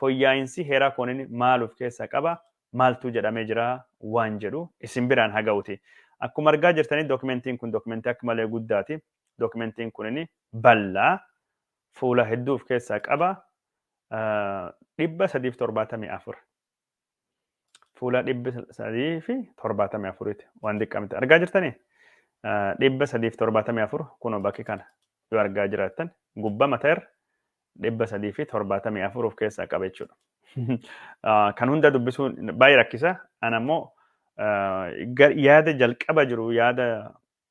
foyyaa'insi heeraa kunin maal of keessaa qaba, maaltuu jedhamee jira waan jedhu isin biraan haa ga'uti. Akkuma argaa jirtanii dookimentiin kun dookimentii akka malee guddaati. Dookimentiin kunin bal'aa fuula hedduu of keessaa qaba. dhibba sadiif torbaatamii afur. fuula dhibba sadii fi torbaatamii afuriiti waan xiqqaa miti argaa jirtanii dhibba sadii fi torbaatamii afur kunoo bakki kana yoo argaa jiraattan gubbaa mataa irra dhibba sadii fi torbaatamii afur of keessaa qaba jechuudha. Kan hunda dubbisuun baay'ee rakkisa. Ana immoo yaada jalqaba jiru yaada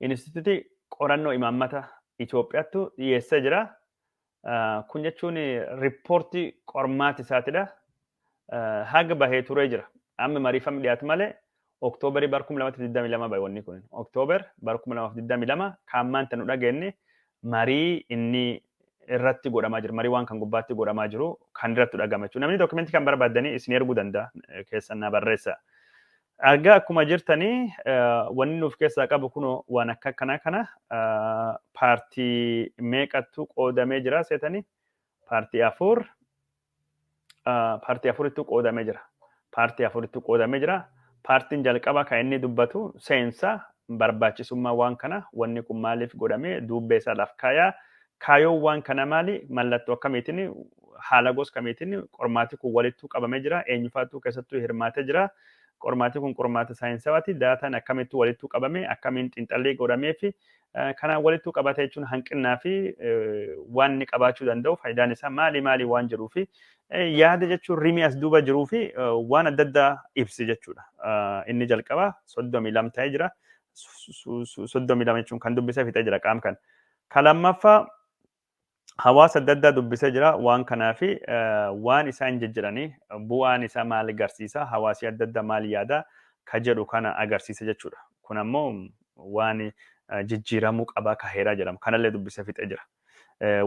Inistituutii qorannoo imaammata Itoophiyaattu dhiyeessee jira. Kun jechuun riippoortii qormaati isaatidha. Haga bahee turee jira. Amma mariifamni dhiyaatu malee Oktoobarii bara 2022 bahe wanni kun. Oktoobar bara 2022 kan maanta nu dhageenye marii inni irratti godhamaa jiru. Marii waan kan gubbaatti godhamaa jiru kan irratti dhagama jechuudha. Namni dookumentii kan barbaaddanii isin erguu danda'a keessan na barreessa. Argaa akkuma jirtanii wanni nuuf keessaa qabu kun waan akka akkanaa kana paartii meeqattu qoodamee jira seetanii paartii afur paartii afurittu qoodamee jira. Paartii afurittu qoodamee jira. Paartiin jalqaba kan inni dubbatu seensa Barbaachisummaa waan kanaa, wanni kun maaliif godhame, duubbee isaa laaf kaayaa, kaayoon waan kanaa maali, mallattoo akkamiitiin, haala gos kamiitiin qormaati kun walittuu qabamee jira, eenyufaattuu keessattuu hirmaatee jira, qormaati kun qormaata saayinsawaati, daataan akkamittuu walittuu qabame, akkamiin xiinxallii godhameefi kanaan walittuu qabate jechuun hanqinnaa fi waan inni qabaachuu danda'u faayidaan isaa maali maali waan jedhuu fi Yaada jechuun rimii as duuba jiruu fi waan adda addaa ibsi jechuudha. Inni jalqabaa soddomii lama ta'ee jira. Soddomii lama jechuun kan dubbisee fixee jira qaam kan. Kan lammaffaa hawaasa adda addaa dubbisee jira waan kanaa fi waan isaan jijjiranii bu'aan isaa maal agarsiisa hawaasi adda addaa maal yaada ka jedhu kana agarsiisa jechuudha. Kun ammoo waan jijjiiramuu qabaa ka heeraa jedhama. Kanallee dubbisee fixee jira.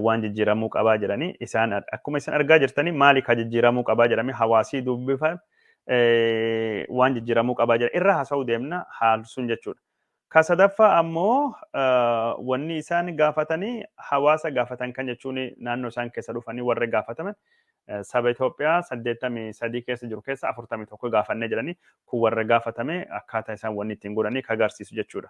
waan jijjiiramuu qabaa jedhanii isaan akkuma isin argaa jirtanii maali ka jijjiiramuu qabaa jedhamee hawaasii dubbifan waan jijjiiramuu qabaa jedhan irra haasa'uu deemna haal sun jechuudha. Ka sadaffaa ammoo wanni isaan gaafatanii hawaasa gaafatan kan jechuun naannoo isaan keessa dhufanii warra gaafataman saba Itoophiyaa saddeettamii sadii keessa jiru keessa afurtamii tokko gaafannee jedhanii kun warra gaafatame akkaataa isaan wanni ittiin godhanii ka agarsiisu jechuudha.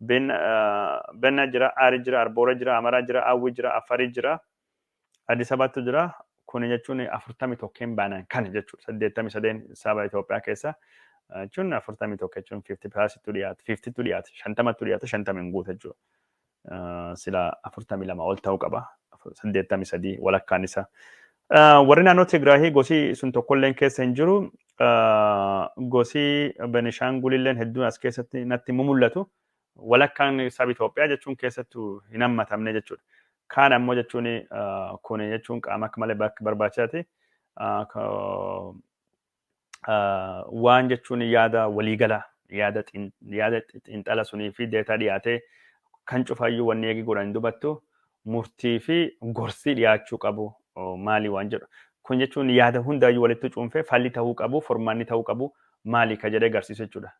Ben, Benna jira, Aari jira, Arboora jira, Amaraa jira, Awwi jira, Affari jira, Addis Ababattu jira. Kuni jechuun afurtamii tokkeen baanaan kana jechuudha. Saddeettamii sadeen saba Itoophiyaa keessa jechuun afurtamii tokko jechuun fiifti pilaasittu dhiyaata, fiiftittu dhiyaata, shantamattu dhiyaata, shantama hin guuta jechuudha. Sila afurtamii lama ol ta'uu qaba. Saddeettamii sadii walakkaan isaa. Warri naannoo Tigraahii gosi sun tokkolleen keessa hin jiru. gosi Benishaangulilleen hedduun as keessatti natti mumullatu walakkaan saba Itoophiyaa jechuun keessattu hin hammatamne jechuudha. Kaan ammoo jechuun kun jechuun qaama akka malee barbaachisaati. Waan jechuun yaada waliigalaa yaada xiinxala sunii fi deetaa dhiyaatee kan cufaayyuu wanni eegi godhan dubattu murtii fi gorsii dhiyaachuu qabu maalii waan jedhu. Kun jechuun yaada hundaayyuu walitti cuunfee falli ta'uu qabu, furmaanni ta'uu qabu maalii ka jedhee garsiisu jechuudha.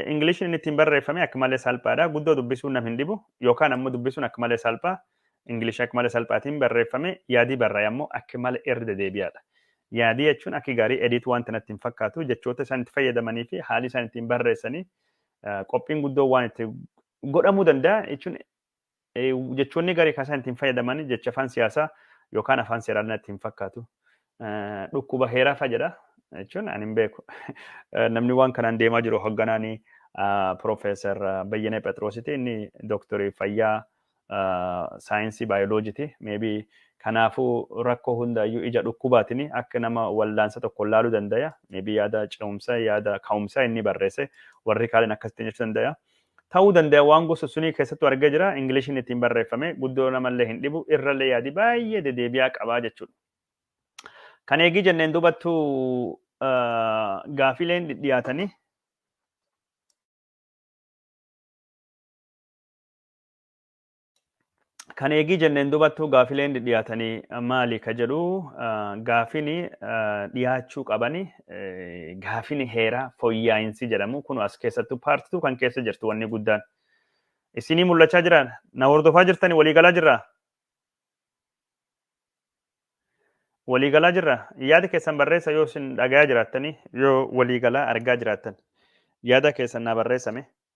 Ingiliishiin inni ittiin barreeffame akka malee salphaadha. Guddoo dubbisuun nam hin dhibu yookaan ammoo dubbisuun akka malee salphaa. Ingiliishii akka malee salphaatiin barreeffame yaadii barraa'e ammoo akka malee irra dedeebi'aadha. Yaadii jechuun akka gaarii ediit waan tanatti hin fakkaatu jechoota isaan itti fayyadamanii fi haalli isaan ittiin barreessanii qophiin guddoo waan itti godhamuu danda'a jechuun jechoonni garee kan isaan ittiin fayyadaman jecha afaan siyaasaa yookaan afaan seeraan natti hin fakkaatu. Dhukkuba heeraa fa'a jedha jechuun ani hin beeku. Namni waan kanaan deemaa jiru hogganaan Piroofeesar Bayyanee Phexroositi inni dooktorii fayyaa saayinsii baayoloojiti. Meebii kanaafuu rakkoo hundaayyuu ija dhukkubaatiin akka nama wallaansa tokko laaluu dandaya. Meebii yaada ce'umsa yaada ka'umsa inni barreesse warri kaaliin akkasitti jechuu dandaya. ta'uu danda'a waan gosa sunii keessattuu argee jira Ingiliishiin ittiin barreeffame guddoo namallee hin dhibu irrallee yaadi baay'ee dedeebi'aa qabaa jechuudha. Kan eegii jenneen dubattu gaafiileen dhidhiyaatanii kan eegii jenneen dubattuu gaafileen dhiyaatanii maali ka jedhu gaafini dhiyaachuu qabani gaafini heeraa foyyaa'insi jedhamu kun as keessattuu paartituu kan keessa jirtu wanni guddaan isinii mul'achaa jira na hordofaa jirtani waliigalaa jirra waliigalaa jirra yaada keessan barreessa yoo isin dhagayaa jiraattani yoo waliigalaa argaa jiraattan yaada keessan naa barreessame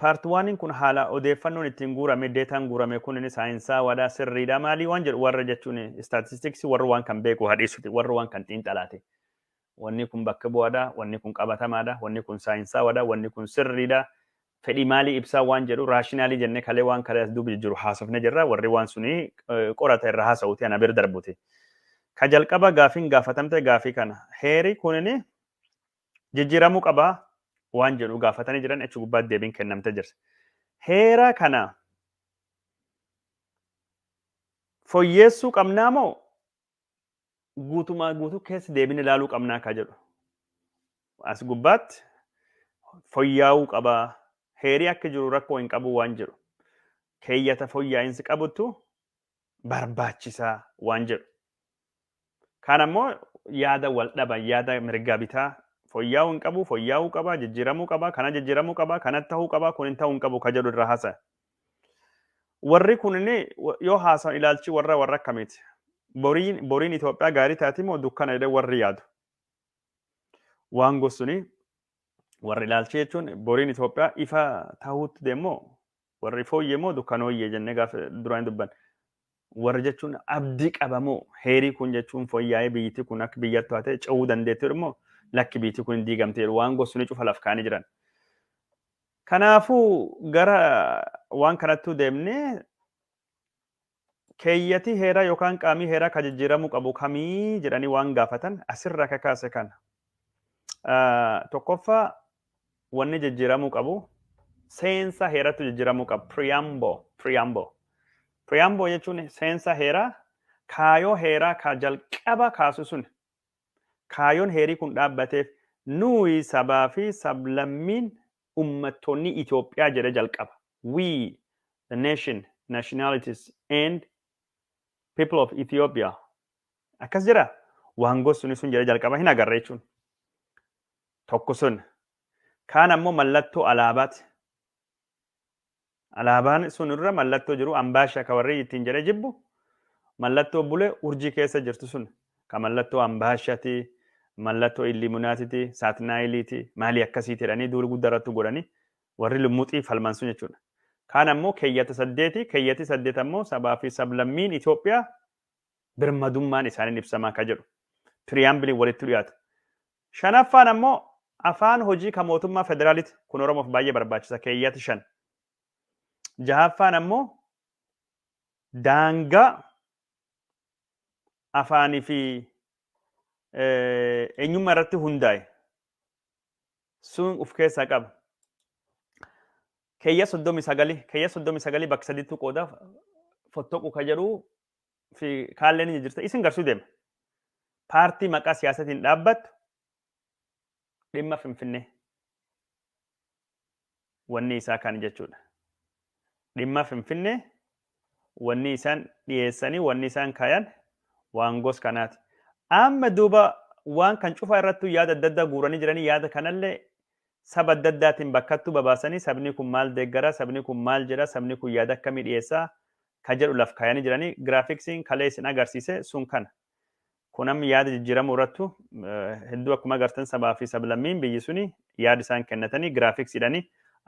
Paarti waaniin kun haala odeeffannoon ittiin guurame deetaan guurame kun inni saayinsaawaadha sirriidha maalii waan jedhu warra jechuun istaatistiksii warra waan kan beeku hadhiisuti warra waan kan xiinxalaate. Wanni kun bakka bu'aadha, wanni kun qabatamaadha, wanni kun saayinsaawaadha, wanni kun sirriidha. Fedhii maalii ibsaa waan jedhu raashinaalii jennee kalee waan kalee as duubi jiru haasofne jirra warri waan suni qorata irra haasa'uuti ana bira darbuti. Ka jalqaba gaafiin gaafatamte gaafii kana heeri kunini jijjiiramuu qaba waan jedhu gaafatanii jiran achi gubbaatti deebiin kennamtee jirti. Heera kana foyyeessuu qabnaa moo guutumaa guutuu keessa deebiin ilaaluu qabnaa akka jedhu. As gubbaatti foyyaa'uu qaba heerii akka jiru rakkoo hin qabu waan jedhu. Keeyyata foyyaa'insi qabutu barbaachisa waan jedhu. Kaan ammoo yaada wal dhaban yaada mirgaa bitaa foyyaa'uu hin qabu, foyyaa'uu qaba, jijjiiramuu qaba, kana jijjiiramuu qaba, kana ta'uu qaba, kun hin ta'uu hin qabu ka jedhu irraa haasa'e. Warri kunin yoo haasa'an ilaalchi warra warra akkamiiti? Boriin boriin Itoophiyaa gaarii taati moo dukkana jedhee warri yaadu? Waan gosuun warri ilaalchi jechuun boriin Itoophiyaa ifa ta'uutti deemmoo Warri fooyyee moo dukkanooyyee jennee gaafa duraan dubbanne. Warra jechuun abdii qabamoo heerii kun jechuun fooyyaa'ee biyyittii kun akka biyyatti taatee ce'uu dandeettiiru immoo lakki biyyittii kun hin diigamteeru waan gosuun cufa laf kaa'anii jiran. Kanaafuu gara waan kanattuu deemnee Keeyyati heeraa yookaan qaamii heeraa ka jijjiiramuu qabu kamii jedhanii waan gaafatan asirraa ka kaase kana. Tokkoffaa wanni jijjiiramuu qabu seensa heerattu jijjiiramuu qaba. Preamble, preamble. Preamble jechuun seensa heeraa kaayoo heeraa ka jalqaba kaasu sun kaayoon heerii kun dhaabbateef nuyi sabaa fi sablammiin Ummattoonni Itoophiyaa jedhee jalqaba. We, the nation, nationalities, and people of Ethiopia. Akkas jedha. Waan gossuni sun jedhee jalqaba hin agarre jechuun. Tokko sun. Kaan ammoo mallattoo alaabaati. Alaabaan sun irra mallattoo jiru Ambaasha ka warrii ittiin jedhee jibbu mallattoo bule urjii keessa jirtu sun ka mallattoo Ambaashati, mallattoo Illiimunaatiti, Saatnaayiliiti, maalii akkasiiti jedhanii duuli gudda irrattu godhani warri lummuxii falman sun jechuudha. Kaan ammoo keeyyata saddeeti, keeyyati saddeet ammoo sabaa fi sablammiin Itoophiyaa birmadummaan isaaniin ibsamaa ka jedhu piriyaambiliin walitti dhiyaatu Shanaffaan ammoo afaan hojii ka mootummaa federaaliti. Kun Oromoof baay'ee barbaachisa, keeyyati 5. Jahaffaan ammoo daangaa afaanii fi eenyummaa irratti hundaa'e sun of keessaa qaba. Keeyya 39 keeyya 39 bakka sadiitti qooda fottoqu ka jedhu fi kaalleen ni jirta isin garsuu deema. Paartii maqaa siyaasatiin dhaabbattu dhimma Finfinnee wanni isaa kan jechuudha. Dhimma Finfinnee wanni isaan dhiyeessanii wanni isaan kaayan waan gos kanaati. Amma duuba waan kan cufaa irrattuu yaada adda addaa guuranii jiranii yaada kanallee saba adda addaatiin bakkattuu babaasanii sabni kun maal deeggara sabni kun maal jedha sabni kun yaada akkamii dhiyeessaa ka jedhu laf kaayanii jiranii giraafiksiin kalee isin agarsiise sun kana. Kun amma yaada jijjiiramuu irrattu hedduu akkuma agartan sabaa fi sablammiin biyyi suni yaada isaan kennatanii giraafiksiidhani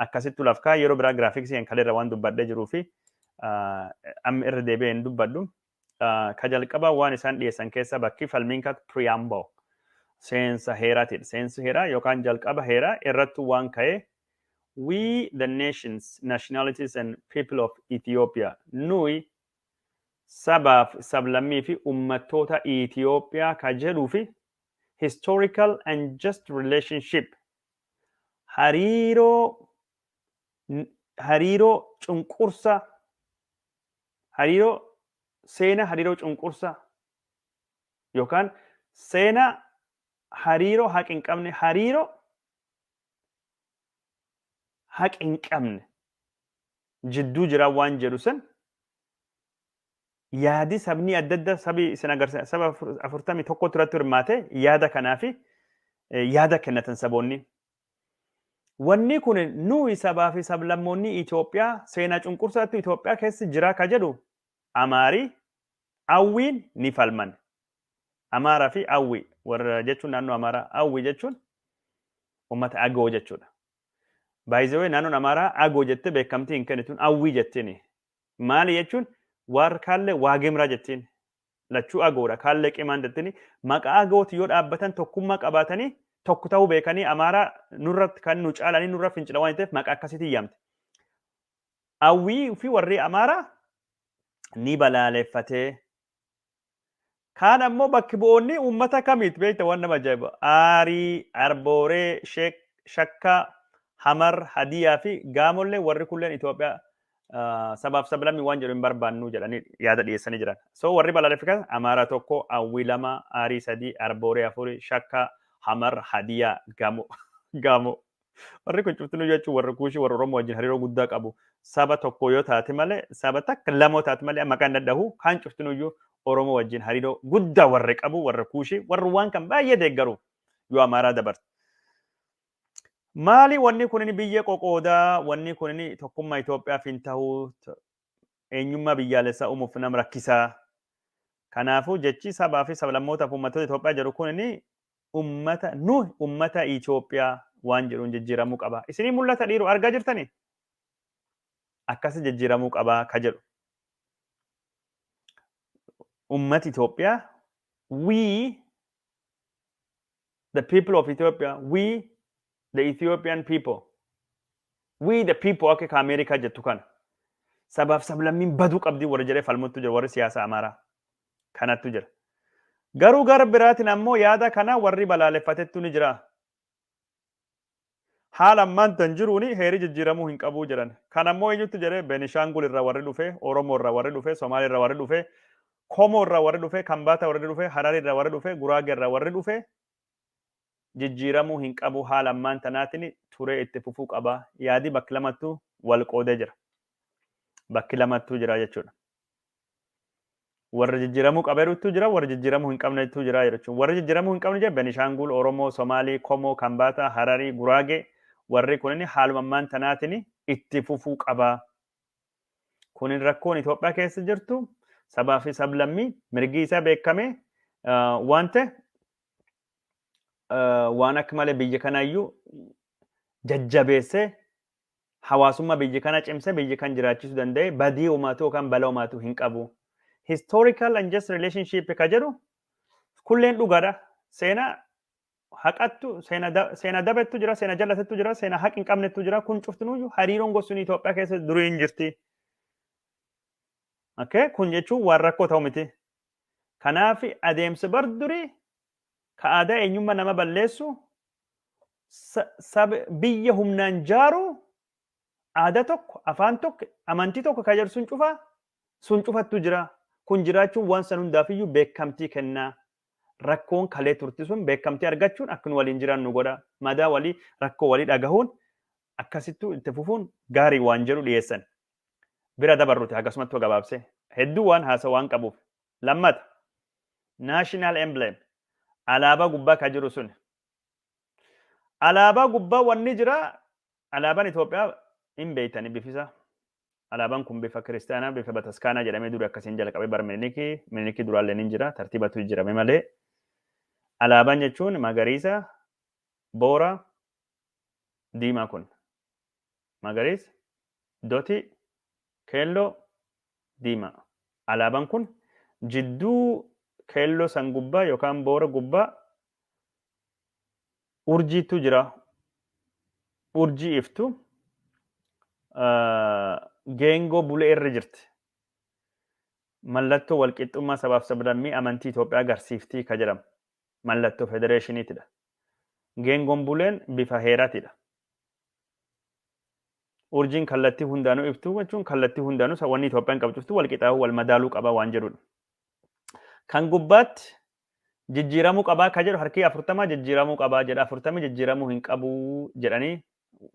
akkasittu laf kaaya yeroo biraa giraafiksii kan kaleerra waan dubbadhee jiruu fi amma irra deebi'ee hin dubbadhu. Ka jalqabaa waan isaan dhiyeessan keessa bakki falmiin kak preamble seensa heeraatiidha. Seensi heeraa yookaan jalqaba heeraa irrattu waan ka'ee We the nations, nationalities and people of Ethiopia, nuyi sabaaf sablammii fi ummattoota Itiyoophiyaa ka jedhuu fi historical and just relationship hariiroo hariiroo cunqursa hariiroo seena hariiroo cunqursa yookaan seena hariiroo haqi hin qabne hariiroo haqa hin qabne jidduu jiraa waan jedhu san yaadi sabni adda addaa sabi isin agarsiisa saba afur- afurtamii tokkotu irratti hirmaate yaada kanaa fi eh, yaada kennatan saboonni. Wanni kun nuyi sabaa fi sablammoonni Itoophiyaa seenaa cunqursaatti Itoophiyaa keessa jiraa ka jedhu Amaarii, Awwiin ni falman. Amaaraa fi Awwi warra jechuun naannoo Amaaraa Awwi jechuun uummata Agoo jechuudha. Baay'isawee naannoon Amaaraa Agoo jettee beekamtii hin kennituun Awwii jettiin. Maali jechuun waar kaallee Waagimraa jettiin. Lachuu Agoodha kaallee Qimaan jettiin. Maqaa Agooti yoo dhaabbatan tokkummaa qabaatanii tokko ta'uu beekanii Amaaraa nurratti kan nu caalanii nurra fincila waan ta'eef maqaa akkasiitiin yaamti. Awwii fi warri Amaaraa ni balaaleffatee Kaan ammoo bakki bu'oonni uummata kamiit beekta waan nama ajaa'iba. Aarii, Arbooree, Sheek, Shakkaa, Hamar, Hadiyaa fi Gaamollee warri kulleen Itoophiyaa ah, sabaaf sablammii waan jedhu hin barbaannu jedhanii yaada dhiyeessanii jiran. So warri balaaleffatan Amaaraa tokko, Awwii lama, Aarii sadii, Arbooree afuri, Shakkaa, Hamar, Hadiyaa, Gaamoo. Gaamoo. Warri kun cuftinuu jechuun warri kuushii warra Oromoo wajjin hariiroo guddaa qabu. Saba tokko yoo taate malee saba takka lamoo taate malee maqaan dhadhahu kaan cuftinuu iyyuu Oromoo wajjin hariiroo guddaa warri qabu warra kuushii warri waan kan baay'ee deeggaru yoo amaaraa dabarte. Maali wanni kun biyyee qoqoodaa wanni kun tokkummaa Itoophiyaaf hin tahu eenyummaa biyyaalessaa uumuuf nama rakkisaa. Kanaafuu jechi sabaa fi sablammootaaf uummattoota Itoophiyaa jedhu kun ummata nuhi ummata Ethiopia waan jedhuun jijjiiramuu qaba. Isinii mul'ata dhiiro argaa jirtani? Akkasi jijjiiramuu qaba ka jedhu. Ummati Ethiopia we the people of Ethiopia we the Ethiopian people we the people akka ka Ameerikaa jettu kana sabaaf sablammiin baduu qabdi warri jedhee falmuttu jira warri siyaasa Amaaraa. kanattu jira. Garuu gara biraatiin ammoo yaada kana warri balaaleffatettu ni jira. Haala ammaan tan jiruun heeri jijjiiramuu hin qabuu jedhan. Kan ammoo eenyutti jedhee Benishaangul irraa warri dhufe, Oromoo irraa warri dhufe, Somaalee irraa warri dhufe, Komoo irraa warri dhufe, Kambaataa warri dhufe, Hararii irraa warri dhufe, Guraagee irraa warri dhufe jijjiiramuu hin qabu haala ammaan tanaatiin turee itti fufuu qaba. Yaadi bakki lamattuu wal qoodee jira. Bakki lamattuu jira jechuudha. Warra jijjiiramuu qabeerutu jira, warra jijjiiramuu hin qabnetu jira jechuun. Warra jijjiiramuu hin qabne jechuun Benishaangul, Oromoo, Somaalii, Komoo, Kambaataa, Hararii, Guraagee warri kunin haaluma ammaan tanaatiin itti fufuu qaba. Kunin rakkoon Itoophiyaa keessa jirtu sabaa fi sablammii mirgi isaa beekamee waan ta'e waan akka malee biyya kanaayyuu jajjabeessee hawaasumma biyyi kana cimse biyyi kan jiraachisu danda'e badii umaatu yookaan bala umaatu hin qabu. Historical and just relationship ka jedhu kulleen dhugaadha. Seena haqattu seena dabettu jira seena jallatettu jira seena haq hin qabnettu jira kun cuftinuuyyu hariiroon gosuun Itoophiyaa keessa durii hin jirti. Okay? Kun jechuun waan rakkoo ta'u miti. Kanaaf adeemsa bar durii ka aadaa eenyumma nama balleessu biyya humnaan jaaru aadaa tokko afaan tokko amantii tokko ka jedhu sun cufa sun cufattu jira kun jiraachuun waan san hundaafiyyuu beekamtii kennaa rakkoon kalee turti sun beekamtii argachuun akka nu waliin jiran nu godha madaa walii rakkoo walii dhagahuun akkasittuu itti fufuun gaarii waan jedhu dhiyeessan bira dabarruti akkasumatti gabaabsee hedduu waan haasa waan qabuuf Lammata, National emblem, alaabaa gubbaa ka jiru suni. Alaabaa gubbaa wanni jira, alaabaan Itoophiyaa hin beektani bifisaa. Alaabaan kun bifa kiristaanaa, bifa bataskaanaa jedhamee duri akkasiin jalqabee bara Miniliki, Miniliki duraallee hin jira, tartiibatu jijjiirame malee. Alaabaan jechuun magariisa, boora, diimaa kun. magariisa, dotii, keelloo, diimaa. Alaaban kun jidduu keelloo san gubbaa yookaan boora gubbaa urjiittu jira. Urjii iftu geengoo bulee irra jirti. Mallattoo walqixxummaa sabaaf sablammii amantii Itoophiyaa agarsiiftii ka jedhamu. mallatto federeeshinitidha. Geengoon buleen bifa heeratidha. Urjiin kallattii hundaanuu iftuu jechuun kallattii hundaanuu sa- wanni Itoophiyaan qabu cuftuu wal qixaa'uu wal madaaluu qaba waan jedhudha. Kan gubbaatti jijjiiramuu qabaa ka jedhu harkii afurtamaa jijjiiramuu qabaa jedha afurtamii jijjiiramuu hin qabu jedhanii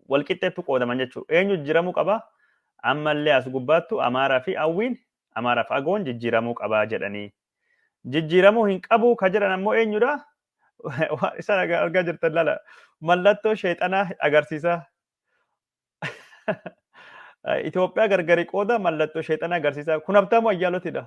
walqixxeettu qoodaman jechuudha. Eenyu jijjiiramuu qaba? Ammallee as gubbaattu Amaaraa fi Awwiin, Amaaraa fi Agoon jijjiiramuu qabaa jedhanii. Jijjiiramuu hin qabuu ka jedhan ammoo eenyudha? Waan isaan argaa jirtan lala. Mallattoo sheexanaa agarsiisaa. Itoophiyaa gargari qooda mallattoo sheexanaa agarsiisaa. Kun Habtaamuu Ayyaalootidha.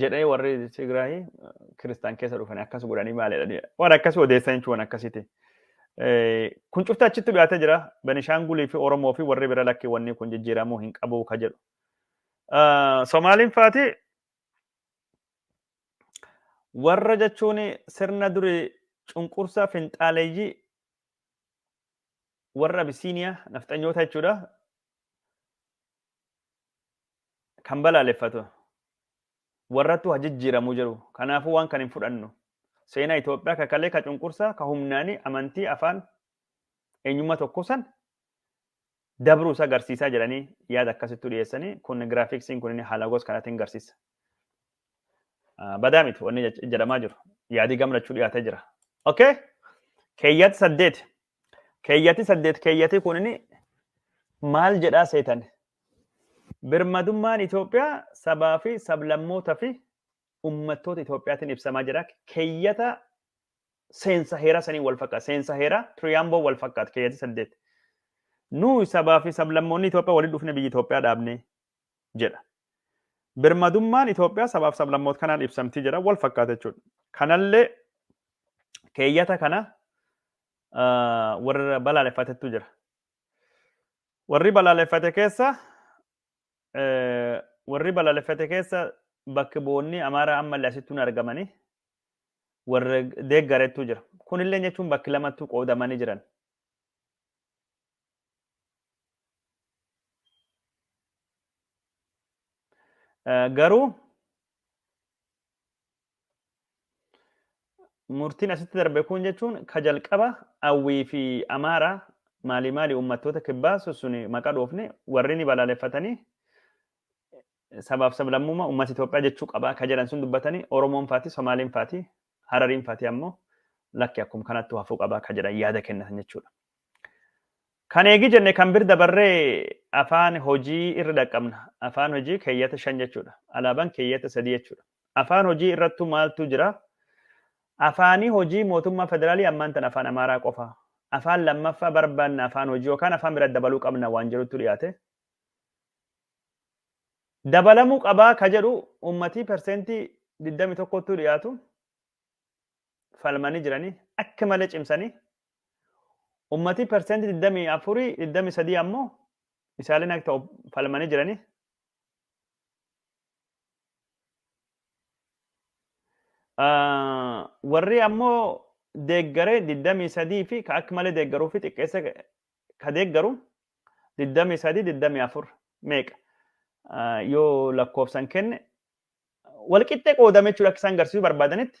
jedhee warri Tigraay kiristaan keessa dhufanii akkas godhanii maal jedhanii waan akkas odeessan jechuun waan akkasiti. Kun cufti achitti dhiyaatee jira. Benishaangulii fi Oromoo fi warri bira lakkii wanni kun jijjiiramuu hin qabu ka jedhu. Somaaliin faati warra jechuun sirna durii cunqursaa finxaaleeyyii warra Abisiiniyaa nafxanyoota jechuudha. kan balaaleffatu warrattu ha jijjiiramu jedhu kanaafuu waan kan hin fudhannu seenaa Itoophiyaa ka kalee ka cunqursaa ka humnaanii amantii afaan eenyummaa tokko san dabruu isa garsiisaa jedhanii yaada akkasittu dhiyeessanii kun giraafiksiin kun inni haala gos kanaatiin garsiisa. Badaa miti wanni jedhamaa jiru yaadii gamlachuu dhiyaatee jira. Okay? Keeyyaatti saddeet Keeyyati saddeet keeyyati kunini maal jedhaa seetan? Birmadummaan Itoophiyaa sabaa fi sablammoota fi ummattoota Itoophiyaatiin ibsamaa jira. Keeyyata seensa heeraa sanii wal fakkaata. Seensa heeraa Tiriyaamboo wal fakkaata keeyyati saddeet. Nuyi sabaa fi sablammoonni Itoophiyaa walitti dhufne biyya Itoophiyaa dhaabne. jedha. Birmadummaan Itoophiyaa sabaaf sablammoota kanaan ibsamti jedha wal fakkaata jechuudha. Kanallee keeyyata kana warra balaaleffatetu jira. Warri balaaleffate keessa warri balaaleffate keessa bakki boonni Amaaraa ammallee asitti hin argamani warra deeggaretu jira. Kunillee jechuun bakki lamattuu qoodamanii jiran. Garuu murtiin asitti darbe kun jechuun ka jalqaba Awwii fi Amaaraa maalii maalii uummattoota kibbaa sun maqaa dhoofne warri ni balaaleffatanii sabaaf sablammummaa uummata Itoophiyaa jechuu qabaa ka jedhan sun dubbatanii Oromoon faati Somaaliin faati Harariin faati ammoo lakki akkuma kanattuu hafuu qabaa ka jedhan yaada kennatan jechuudha. Kan eegi jenne kan bir dabarree afaan hojii irra dhaqqabna. Afaan hojii keeyyata shan jechuudha. Alaabaan keeyyata sadii jechuudha. Afaan hojii irrattu maaltu jira? Afaanii hojii mootummaa federaalii ammaan tan afaan Amaaraa qofa. Afaan lammaffaa barbaanna afaan hojii yookaan afaan bira dabaluu qabna waan jedhutu dhiyaate. Dabalamuu qabaa ka jedhu uummatii perseentii 21 dhiyaatu falmanii jiranii akka malee cimsanii Ummatii percent 24 23 ammoo isaaleen akka ta'u falmanii jiranii. Warri ammoo deeggaree 23 fi ka akka malee deeggaruu fi xiqqeessa ka deeggaru 23 24 meeqa yoo lakkoofsan kenne walqixxee qoodame jechuudha akka isaan garsiisuu barbaadanitti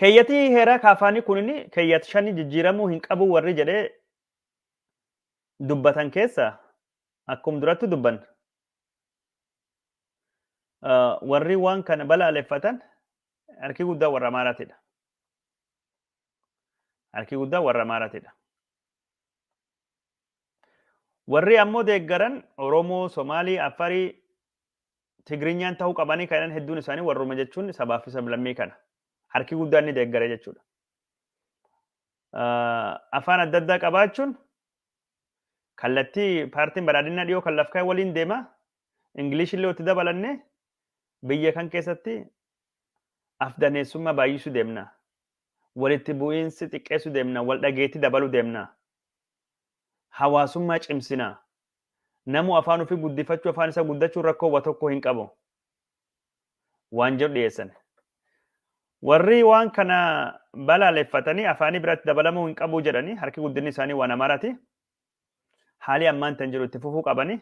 Keeyyatii heeraa kaafaanii kunini keeyyat shani jijjiiramuu hin qabu warri jedhee dubbatan keessa akkum duratti dubban warri waan kana balaaleffatan harki guddaa warra Amaaraatidha. Harki guddaa warra Amaaraatidha. Warri ammoo deeggaran Oromoo, Somaalii, Affarii Tigrinyaan ta'uu qabanii kan jedhan hedduun isaanii warruma jechuun sabaa fi sablammii kana harki guddaan ni deeggare jechuudha. Afaan adda addaa qabaachuun kallattii paartiin badhaadhinaa dhiyoo kan lafkaa waliin deema. Ingilish illee itti dabalannee biyya kan keessatti afdaneessummaa baay'isuu deemna. Walitti bu'iinsi xiqqeessuu deemna. Wal dhageetti dabaluu deemna. Hawaasummaa cimsina. Namu afaan ofii guddifachuu afaan isa guddachuun rakkoo wa tokko hin qabu. Waan jedhu dhiyeessan. Warri waan kana balaaleffatanii afaanii biratti dabalamuu hin qabu jedhanii harki guddinni isaanii waan Amaaraati. Haalii ammaan tan jiru itti fufuu qabanii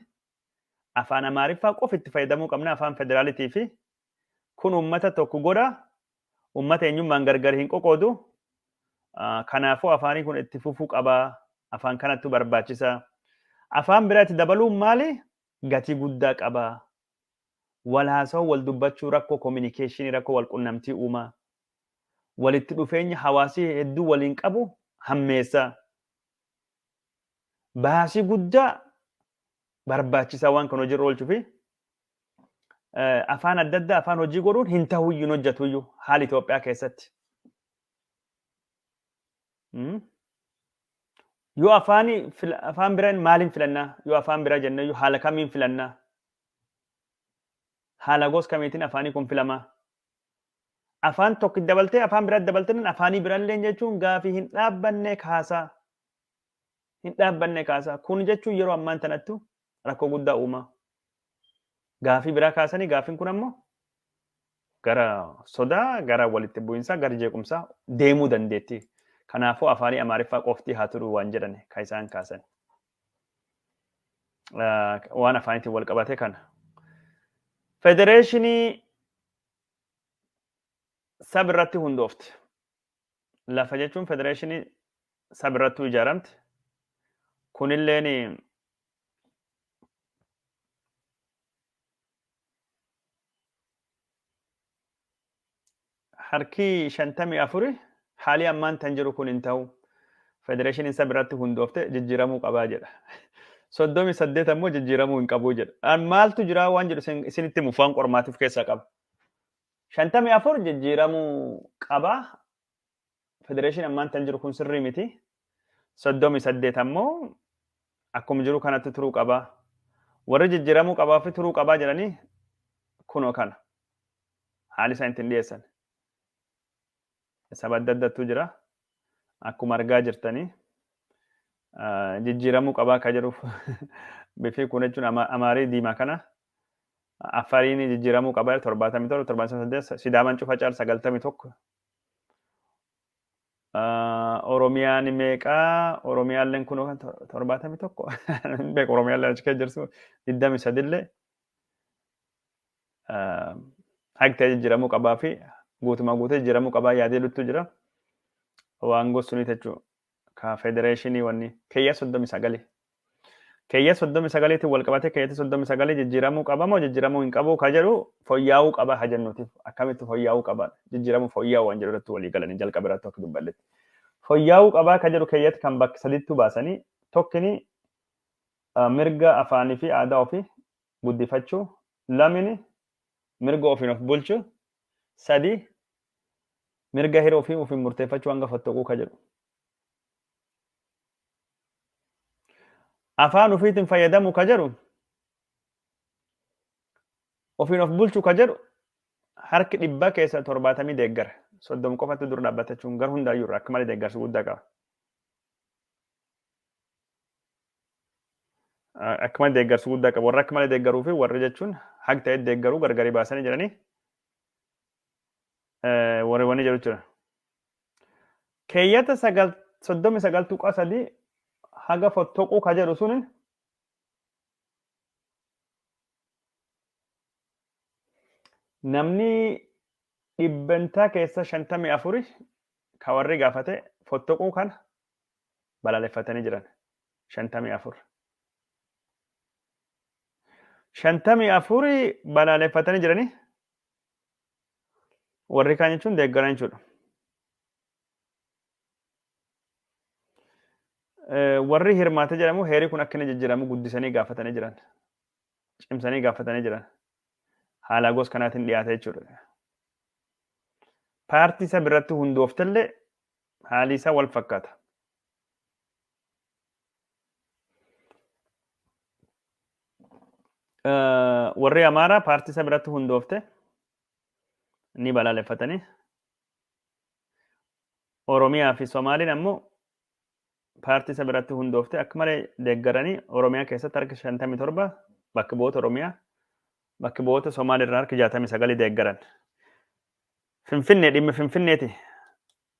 afaan Amaariffaa qofa itti fayyadamuu qabna afaan federaalitii fi Kun uummata tokko godha, uummata eenyummaan gargar hin qoqoodu. Kanaafuu afaanii kun itti fufuu qaba. Afaan kanattu barbaachisa. Afaan biraa itti dabaluun maali? Gatii guddaa qaba. Wal haasawuu, wal dubbachuu, rakkoo kominikeeshinii, rakkoo wal qunnamtii uuma. Walitti dhufeenya hawaasii hedduu waliin qabu hammeessa. Baasii guddaa barbaachisa waan kan hojiirra oolchuufi. eh, afaan adda addaa afaan hojii godhuun hin ta'uyyuu hin hojjetuyyuu haala Itoophiyaa keessatti. Mm. Yoo afaan afaan biraan maaliin filannaa? Yoo afaan biraa jennee yoo haala kamiin filannaa? Haala gosa kamiitiin afaanii kun filamaa? Afaan tokko dabaltee afaan biraa dabaltee afaanii biraallee jechuun gaafii hin dhaabbanne kaasaa. hin dhaabbanne kaasa. Kun jechuun yeroo ammaan tanattu rakkoo guddaa uumaa. Gaafii biraa kaasanii gaafiin kun ammoo gara sodaa, gara walitti bu'insaa, gara jeequmsaa deemuu dandeetti. Kanaafuu afaanii Amaariffaa qofti haa turu waan jedhan kan isaan kaasan. Waan afaaniitiin wal qabate kana. Federeeshinii sab irratti hundoofte. lafa jechuun federeeshinii sab irrattuu ijaaramti. Kunilleen harkii shantamii afuri haalii ammaan tan jiru kun hin ta'u. Federeeshiniin sab irratti hundoofte jijjiiramuu qabaa jedha. Soddomii saddeet ammoo jijjiiramuu hin qabuu jedha. Maaltu jiraa waan jedhu isinitti mufu waan qormaatiif keessaa qaba. shantamii afur jijjiiramuu qaba. Federeeshinii ammaan tan jiru kun sirrii miti. Soddomii saddeet ammoo akkuma jiru kanatti turuu qaba. Warri jijjiiramuu qabaa fi turuu qabaa jedhanii kunoo kana. Haalli isaan ittiin dhiyeessan. saba adda addattu jira. Akkuma argaa jirtanii jijjiiramuu qabaa akka jedhuuf bifii kun jechuun amaarii diimaa kana affariin jijjiiramuu qabaa jedhu torbaatamii torba torbaatamii saddeet sidaaman cufa caal sagaltamii tokko oromiyaan meeqaa oromiyaalleen kun torbaatamii tokko beeku oromiyaalleen achi keessa jirtu digdamii sadillee Haqtee jijjiiramuu qabaa fi guutumaa guutee jijjiiramuu qabaa yaadee luttuu jira. Waan gosuun jechuun ka federeeshinii wanni keeyya soddomi sagali. Keeyya soddomi sagaliitiin wal qabatee keeyyatti soddomi sagalii jijjiiramuu qaba moo jijjiiramuu hin qabu ka jedhu foyyaa'uu qaba ka jennuutiif akkamitti foyyaa'uu qaba jijjiiramuu foyyaa'uu waan jedhu irratti walii galanii jalqaba irratti akka dubballetti. Foyyaa'uu qabaa ka jedhu keeyyatti kan bakka sadiittuu baasanii tokkini mirga afaanii fi aadaa ofii guddifachuu, lamini mirga ofiin of bulchu, sadi mirga hira ofii ofiin murteeffachuu hanga fottoquu ka jedhu. Afaan ofiitiin fayyadamu ka jedhu ofiin of bulchu ka jedhu harki dhibba keessa torbaatamii deeggara. Soddom qofatti dura dhaabbatachuun gar hundaayyuu irraa akka malee deeggarsa guddaa qaba. akka malee deeggarsu guddaa qabu. Warra akka malee deeggaruu fi warri jechuun haq ta'e deeggaruu gargari baasanii jiranii warri wanni jedhu jira. Keeyyata sagal soddomi sagal tuqaa sadii haga fottoquu ka jedhu suni namni dhibbantaa keessa shantamii afuri ka warri gaafate fottoquu kana balaaleffatanii jiran. shantamii afur. Shantamii afuri balaaleffatanii jiranii warri kaan jechuun deeggaran jechuudha. Warri hirmaate jedhamu heerii kun akka inni jijjiiramu guddisanii gaafatanii jiran. Cimsanii gaafatanii jiran. Haala gosa kanaatiin dhiyaate jechuudha. Paartii isa biratti hundooftellee haalii isaa wal fakkaata. Warri Amaaraa paartii isa biratti hundoofte ni balaaleffatanii. Oromiyaa fi Somaaliin ammoo paartii isa biratti hundoofte akka malee deeggaranii Oromiyaa keessatti harki 57 bakka bu'oota Oromiyaa bakka bu'oota Somaaliirraa harki 69 deeggaran. Finfinnee dhimmi Finfinneeti.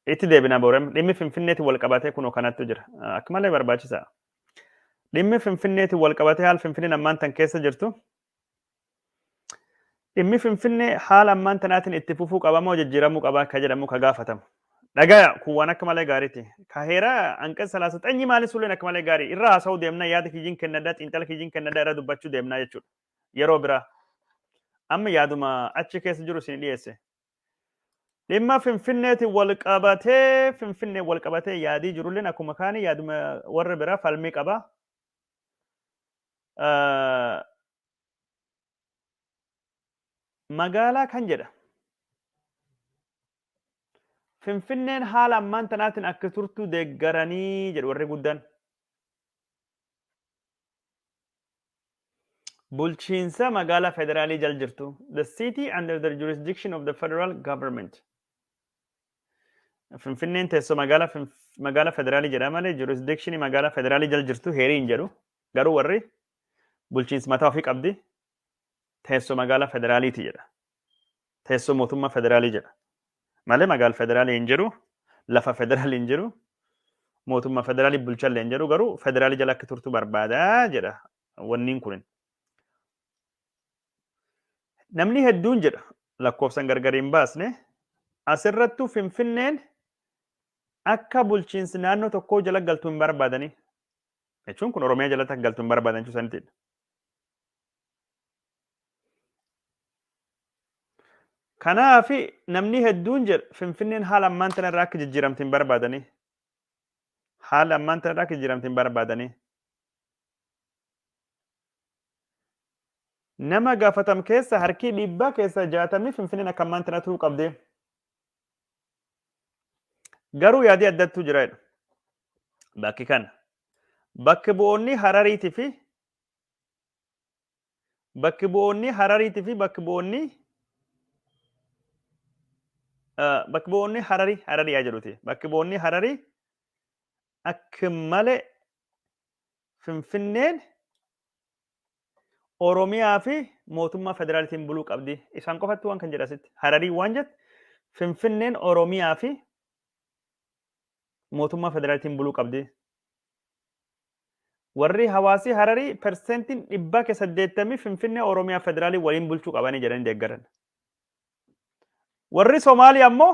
Itti deebina boorem dhimmi Finfinneeti wal qabatee kunoo kanattu jira. Akka malee barbaachisa. Dhimmi Finfinneeti wal qabatee haal Finfinneen ammaan tan keessa jirtu. Dhimmi Finfinnee haala ammaan tanaatiin itti fufuu qaba moo jijjiiramuu qaba akka jedhamu ka gaafatamu. Dhagaya kun waan akka malee gaariiti. Ka heeraa hanqas salaasa xanyi maali sulleen akka malee gaarii irra haasa'uu deemna yaada kiyyiin kennadha xiinxala kiyyiin kennadha irra dubbachuu deemna jechuudha. yeroo biraa amma yaaduma achi keessa jiru isin dhiyeesse. Dhimma Finfinneetiin wal qabatee Finfinnee wal qabatee yaadii jirulleen akkuma kaanii yaaduma warra biraa falmii qaba. Ah, Magaalaa kan jedha. Finfinneen haala ammaan tanaatiin akka turtu deeggaranii jedhu warri guddaan. Bulchiinsa magaalaa federaalii jal jirtu. The city under the jurisdiction of the federal government. Finfinneen teessoo magaalaa Finf- magaalaa federaalii jedha malee jurisdiction magaalaa federaalii jal jirtu heerii hin jedhu. Garuu warri bulchiinsa mataa ofii qabdi teessoo magaalaa federaaliiti jedha. Teessoo mootummaa federaalii jedha. Malee magaal federaalii hin jiru, lafa federaalii hin jiru, mootummaa federaalii bulchallee hin jiru garuu federaalii jala akka turtu barbaada jedha wanniin kunin. Namni hedduun jedha lakkoofsan gargar hin baasne asirrattuu finfinneen akka bulchiinsi naannoo tokkoo jala galtu hin barbaadanii. Jechuun kun Oromiyaa jalatti akka galtu hin barbaadan jechuu sanitidha. Kanaaf namni hedduun jedha Finfinneen haala ammaan tana irraa akka jijjiiramtu hin barbaadanii. Haala ammaan tana irraa akka jijjiiramtu hin barbaadanii. Nama gaafatam keessa harkii dhiibbaa keessa jaatamni Finfinneen akka ammaan tana turuu qabdee. Garuu yaadii addattuu jira jedhu. Bakki kana. Bakki bu'oonni Harariitii fi Bakki bu'oonni Harariitii fi bakki bu'oonni bakki bu'oonni Hararii Hararii haa jedhuti. Bakki bu'oonni Hararii akka malee Finfinneen Oromiyaa fi mootummaa federaalitiin buluu qabdi. Isaan qofatti waan kan jedhu asitti. Hararii waan jette Finfinneen Oromiyaa fi mootummaa federaalitiin buluu qabdi. Warri hawaasii Hararii perseentiin dhibbaa ke 80 Finfinnee Oromiyaa Federaalii waliin bulchuu qabanii jedhanii deeggaran. Warri Somaalii ammoo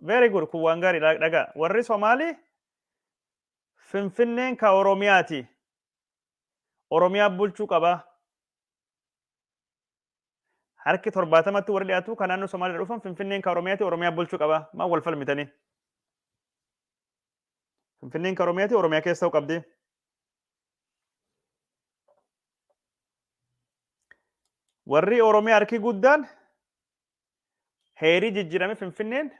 very good kun waan gaarii dha- dhagaa. Warri Somaalii Finfinneen ka Oromiyaati. Oromiyaa bulchuu qaba. Harki torbaatamatti warri dhiyaatu kan naannoo Somaalii dhufan Finfinneen ka Oromiyaati Oromiyaa bulchuu qaba. Maa wal falmitanii? Finfinneen kan Oromiyaati, Oromiyaa keessa ta'uu qabdi. Warri Oromiyaa harki guddaan heerii jijjiirame Finfinneen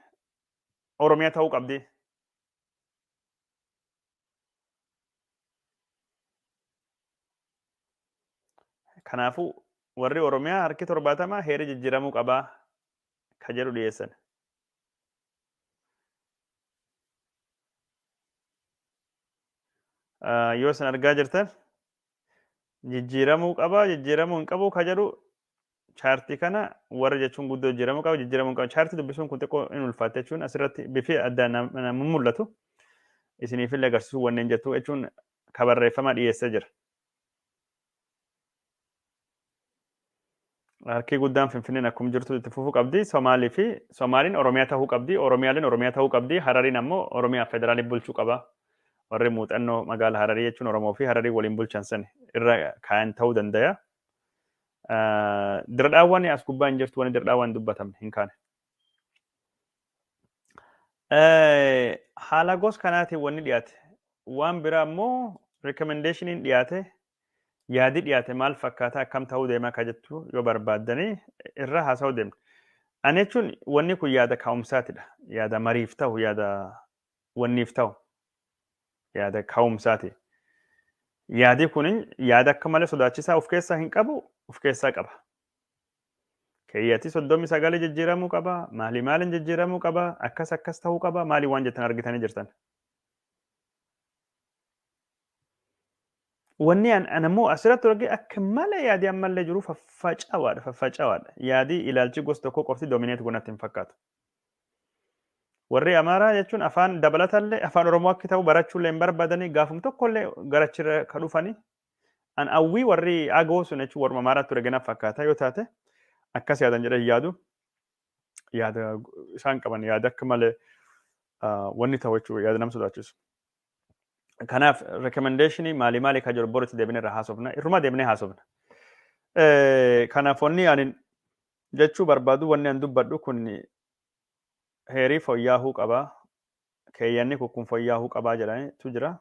Oromiyaa ta'uu qabdi. Kanaafuu warri Oromiyaa harki torbaatama heerii jijjiiramuu qabaa ka jedhu dhiyeessan. Ah, yoo isin argaa jirtan jijjiiramuu qaba jijjiiramuu hin qabu ka jedhu chaartii kana warra jechuun guddoo jijjiiramuu qaba jijjiiramuu hin qabu chaartii dubbisuun kun xiqqoo hin ulfaatte jechuun asirratti bifi adda nam- nam- mul'atu isiniif illee agarsiisuu wanneen jettu jechuun ka barreeffama dhiyeessee jira. Harkii guddaan Finfinneen akkuma jirtu itti fufuu qabdi. Somaalii fi Somaaliin Oromiyaa ta'uu qabdi. Oromiyaaleen Oromiyaa ta'uu qabdi. Harariin ammoo Oromiyaa federaalii bulchuu qaba. Warri muuxannoo magaala Hararii jechuun Oromoo fi Hararii waliin bulchan san irra kaayan ta'uu dandaya. Diradhaawwan as gubbaa hin jirtu wani diradhaawwan dubbatamne hin kaane. Eh, Haala gos kanaatiin wanni dhiyaate waan biraa immoo rikamendeeshiniin dhiyaate yaadi dhiyaate maal fakkaata akkam ta'uu deema akka jettu yoo barbaaddanii irra haasa'uu deemna. Ani jechuun wanni kun yaada ka'umsaatidha. Yaada mariif ta'u, yaada wanniif ta'u, yaada ka'umsaati. Yaadi kun yaada akka malee sodaachisaa of keessaa hin qabu, of keessaa qaba. Keeyyati 39 jijjiiramuu qaba, maalii maaliin jijjiiramuu qaba, akkas akkas ta'uu qaba, maalii waan jettan argitanii jirtan. Wanni an an ammoo asirratti arge akka malee yaadii ammallee jiru faffacawaadha faffacawaadha. Yaadii ilaalchi gosa tokkoo qofti domineet gonatti hin fakkaatu. Warri Amaaraa jechuun afaan dabalatallee afaan Oromoo akka ta'u barachuullee hin barbaadanii gaafum tokkollee garachirra ka dhufanii An awwii warri agoo sun jechuun warra Amaaraa ture gana fakkaata yoo taate akkas yaadan jedhee hin yaadu. Yaada isaan qaban yaada akka malee ah, wanni ta'u jechuudha yaada nama sodaachisu. Kanaaf rekomendeeshinii maalii maalii kan jiru boritti deebinee irraa haasofna. Irruma deebinee haasofna. Eh, Kanaaf wanni ani jechuu barbaadu wanni an dubbadhu kun heerii fooyyaahuu qaba. Keeyyanni kun kun fooyyaahuu qabaa jedhanitu jira.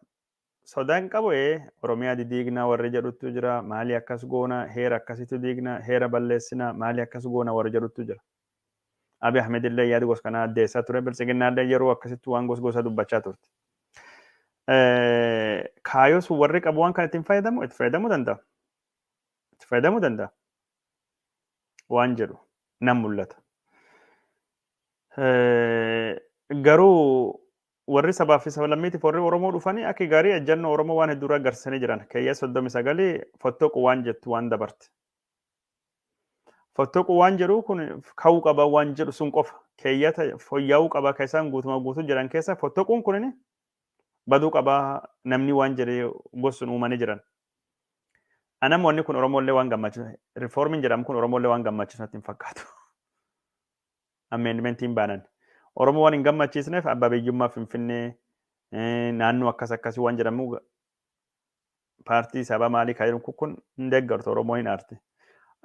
Soda hin qabu ee oromiyaa didiigna warri jedhuttu jira maali akkas goona heera akkasitu diigna heera balleessina maali akkas goona warri jedhuttu jira. Abiy Ahmed illee yaada gos kanaa addeessaa ture biltsiginnaa illee yeroo akkasitti waan gos gosa dubbachaa turte. Kaayoo sun warri qabu waan kan ittiin fayyadamu itti fayyadamuu danda'a. Itti fayyadamuu danda'a. Waan jedhu nan mul'ata. Garuu Warri sabaa fi sablammiitiif warri Oromoo dhufanii akka gaarii ejjannoo Oromoo waan hedduu irraa agarsiisanii jiran. Keeyyata 39 fottoquu waan jettu waan dabarte. Fottoquu waan jedhu kun ka'uu qaba waan jedhu sun qofa. Keeyyata fooyya'uu qaba kan isaan guutumaa guutuu jiran keessa fottoquun kun baduu qaba namni waan jedhe gosuun uumanii jiran. Anam wanni kun Oromoollee waan gammachiisu. Rifoormiin jedhamu kun Oromoollee waan gammachiisu natti hin fakkaatu. amendmentiin baanan. Oromoo waan hin gammachiisneef abbaa biyyummaa Finfinnee naannoo akkas akkasii waan jedhamu paartii sabaa maalii kan jedhu kun hin deeggartu Oromoon hin aarti.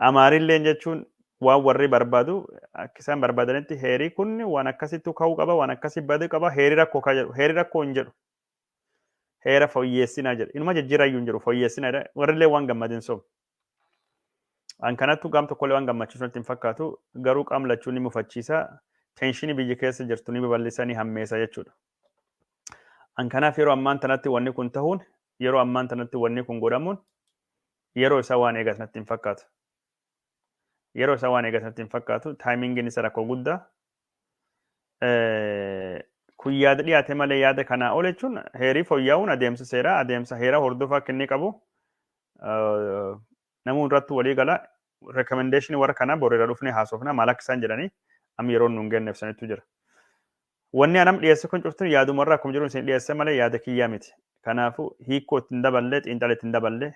Amaarilleen jechuun waan warri barbaadu akka isaan barbaadanitti heerii kun waan akkasittu ka'uu qaba waan akkasii baduu qaba heerii rakkoo kan jedhu heerii rakkoo hin jedhu. Heera fooyyeessinaa jedhu inuma jijjiirayyuu hin jedhu fooyyeessinaa jedha warrillee waan gammadin sobu. An kanattu gaam tokkollee waan gammachiisu natti hin fakkaatu. Garuu qaam lachuu ni mufachiisa. Teenshinii biyyi keessa jirtu ni babal'isa ni hammeessa jechuudha. An kanaaf yeroo ammaan tanatti wanni kun tahuun yeroo ammaan tanatti wanni kun godhamuun yeroo isaa waan eegas natti hin fakkaatu. Yeroo isaa waan eegas natti hin fakkaatu. Taayimingiin isa rakkoo guddaa Eh, kun yaada dhiyaate malee yaada kanaa ol jechuun heerii fooyya'uun adeemsa seeraa adeemsa heeraa hordofaa akka inni qabu eh, namuu irratti walii gala rekomendeeshinii warra kanaa boriira dhufnee haasofna maal akka isaan jedhanii amma yeroon nuun kenneef sanitu jira. Wanni anam dhiyeesse kun cuftin yaaduma irraa akkuma jiru isin dhiyeesse malee yaada kiyyaa miti. Kanaafuu hiikkoo ittiin daballee xiinxala ittiin daballee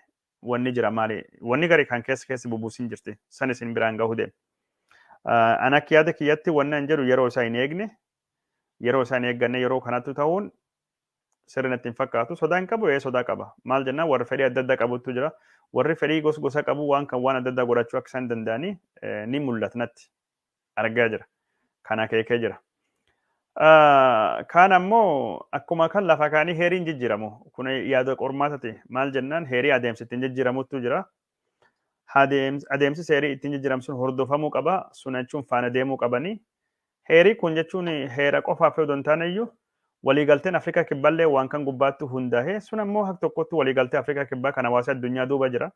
wanni jira maali wanni gari kan keessa keessa bubuusin jirti san isin biraan gahu deem an akka yaada kiyyatti wanni an jedhu yeroo isaa hin eegne yeroo isaa hin eegganne yeroo kanattu ta'uun sirri natti hin fakkaatu sodaa hin qabu ee sodaa qaba maal jennaan warri fedhii adda addaa qabutu jira warri fedhii gos gosa qabu waan kan waan adda addaa godhachuu akka isaan danda'anii ni mul'ata natti argaa jira. Kan akeekee jira. Kaan ammoo akkuma kan lafa kaanii heeriin jijjiiramu. Kun yaada qormaatati. Maal jennaan heerii adeemsi ittiin jijjiiramutu jira. Adeemsi heerii ittiin jijjiiramu sun hordofamuu qaba. Sun jechuun faana deemuu qabanii. Heerii kun jechuun heera qofaaf yoo hin taane iyyuu waliigalteen Afrikaa Kibballee waan kan gubbaatti hundaa'e. Sun ammoo hak tokkotti waliigaltee Afrikaa Kibbaa kan hawaasa addunyaa duuba jira.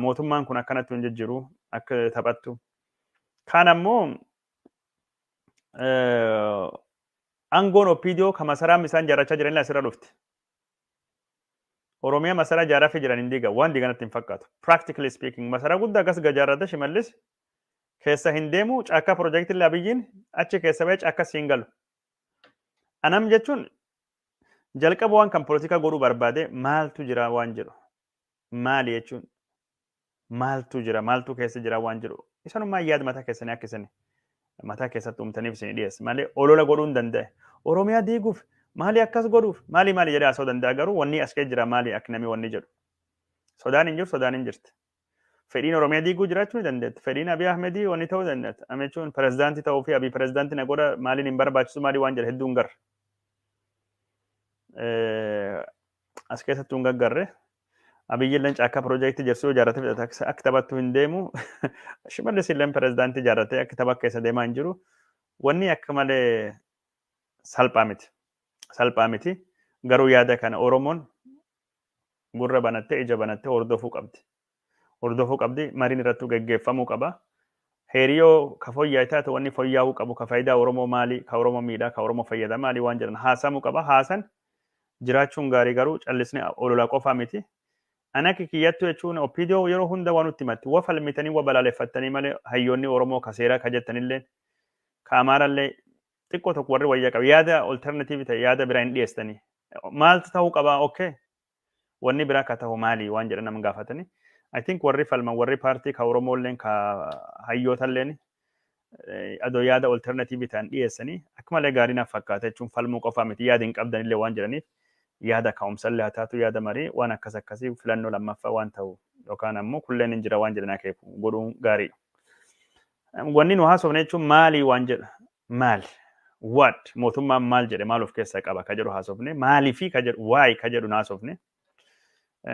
Mootummaan kun akkanatti hin jijjiru akka taphattu. Kaan ammoo aangoon OPDO kan masaraan isaan jaarrachaa jiranillee asirra dhufti. Oromiyaa masaraa jaarraffii jiran hin diiga waan diiganatti hin fakkaatu. Practically speaking masaraa guddaa akkas gajaarrata shimallis keessa hin deemu caakkaa piroojeektiin abiyyiin achi keessa ba'ee caakkaa siin galu. Anam jechuun jalqaba waan kan polotikaa godhuu barbaade maaltu jira waan jedhu. maali jechuun maaltu jira maaltu keessa jira waan jedhu isanummaa yaada mataa keessanii akka isin mataa keessatti uumtaniif isin dhiyeesse malee olola godhuu hin danda'e oromiyaa diiguuf maali akkas godhuuf maali maali jedhee asoo danda'a garuu wanni as kee jira maali akka namni wanni jedhu sodaan hin jiru sodaan hin jirti fedhiin oromiyaa diiguu jiraachuu ni dandeetti fedhiin abiy ahmedii wanni ta'uu dandeetti amechuun pirezidaantii ta'uu fi abiy pirezidaantii na godha maaliin hin barbaachisu maalii waan jedhe hedduun garra as keessatti hin gaggarre. Abiyyi illee caakkaa piroojeektii ijaarsu yoo ijaarrate fixate akka akka taphattu hin deemu. Shimallis illee pirezidaantii ijaarratee akka tapha keessa deemaa hin jiru. Wanni akka malee salphaa miti. Salphaa miti. Garuu yaada kana Oromoon gurra banattee ija banattee hordofuu qabdi. hordofuu qabdi. Mariin irrattuu geggeeffamuu qaba. Heeri yoo ka foyyaa'e taate wanni foyyaa'uu qabu ka faayidaa Oromoo maali, ka Oromoo miidhaa, ka Oromoo fayyada maali waan jedhan haasaamuu qaba. Haasan jiraachuun gaarii garuu callisne ololaa qofaa miti. Ani akka kiyyattu jechuun OPDO yeroo hunda waa nutti himatti. Wa falmitanii wa balaaleffattanii malee hayyoonni Oromoo ka seeraa ka jettanilleen ka Amaarallee xiqqoo tokko warri wayyaa qabu yaada alternative ta'e yaada biraa hin dhiyeessitanii. Maaltu ta'uu qabaa? Okay. Wanni biraa ka tahu maali waan jedhan nama gaafatani. I think warri falman warri paartii ka Oromoo illeen ka hayyoota illeen adoo yaada alternative ta'an dhiyeessanii akka malee gaarii naaf fakkaata jechuun falmuu qofaa miti yaada hin qabdan illee waan jedhaniif yaada ka'umsa illee haa taatu yaada marii waan akkas akkasii filannoo lammaffaa waan ta'u yookaan ammoo kulleen hin jira waan jedhan akeeku godhuun gaariidha. Wanni nu haasofne jechuun maalii waan jedha maal, what, mootummaan maal jedhe maal of keessaa qaba ka jedhu haasofne, maalifi ka jedhu, why ka jedhu haasofne.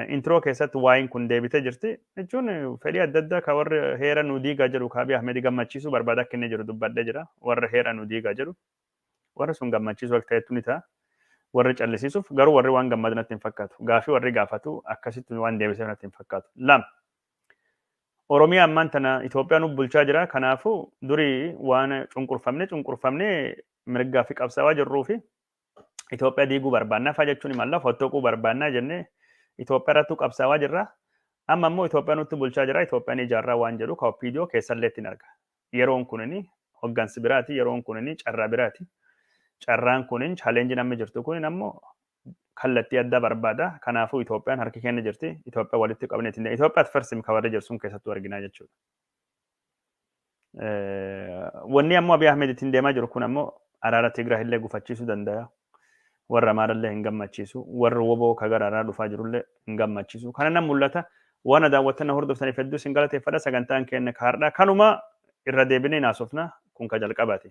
Intiroo keessatti waayiin kun deebitee jirti. Jechuun fedhii adda addaa ka warri heera nu diigaa jedhu ka Abiy Ahmed gammachiisuu barbaada akka inni jiru dubbadhee jira. Warra heera nu diigaa jedhu. Warri sun gammachiisuu akka ta'etu ni ta'a. Warri callisiisuuf garuu warri waan gammadu natti hin fakkaatu. Gaafii warri gaafatu akkasitti waan deebiseef natti hin fakkaatu. Lama. Oromiyaa ammaan tana Itoophiyaan nu bulchaa jira. Kanaafuu duri waan cunqurfamne cunqurfamne mirgaa fi qabsaawaa jirruu fi Itoophiyaa diiguu barbaannaa fa'aa jechuun himalla fottoquu barbaannaa jennee Itoophiyaa irrattuu qabsaawaa jirra. Amma immoo Itoophiyaa nutti bulchaa jira. Itoophiyaan ijaarraa waan jedhu ka OPDO keessallee ittiin arga. Yeroon kunini hoggansi biraati. Yeroon kunini carraa biraati. Carraan kunin challenge namni jirtu kunin ammoo kallattii addaa barbaada. Kanaafuu Itoophiyaan harki keenya jirti. Itoophiyaa walitti qabnee ittiin deemna. Itoophiyaa at first ka warri jedhu sun keessattuu arginaa jechuudha. Wanni ammoo Abiy Ahmed ittiin deemaa jiru kun ammoo araara Tigraay illee gufachiisuu danda'a. Warra Amaarallee hin gammachiisu. Warra woboo ka gara araaraa dhufaa jirullee hin gammachiisu. Kana nan mul'ata. Waan daawwattan hordoftaniif hedduu isin galateeffadha. Sagantaan keenya kaardhaa kanuma irra deebinee hin haasofna. Kun ka jalqabaati.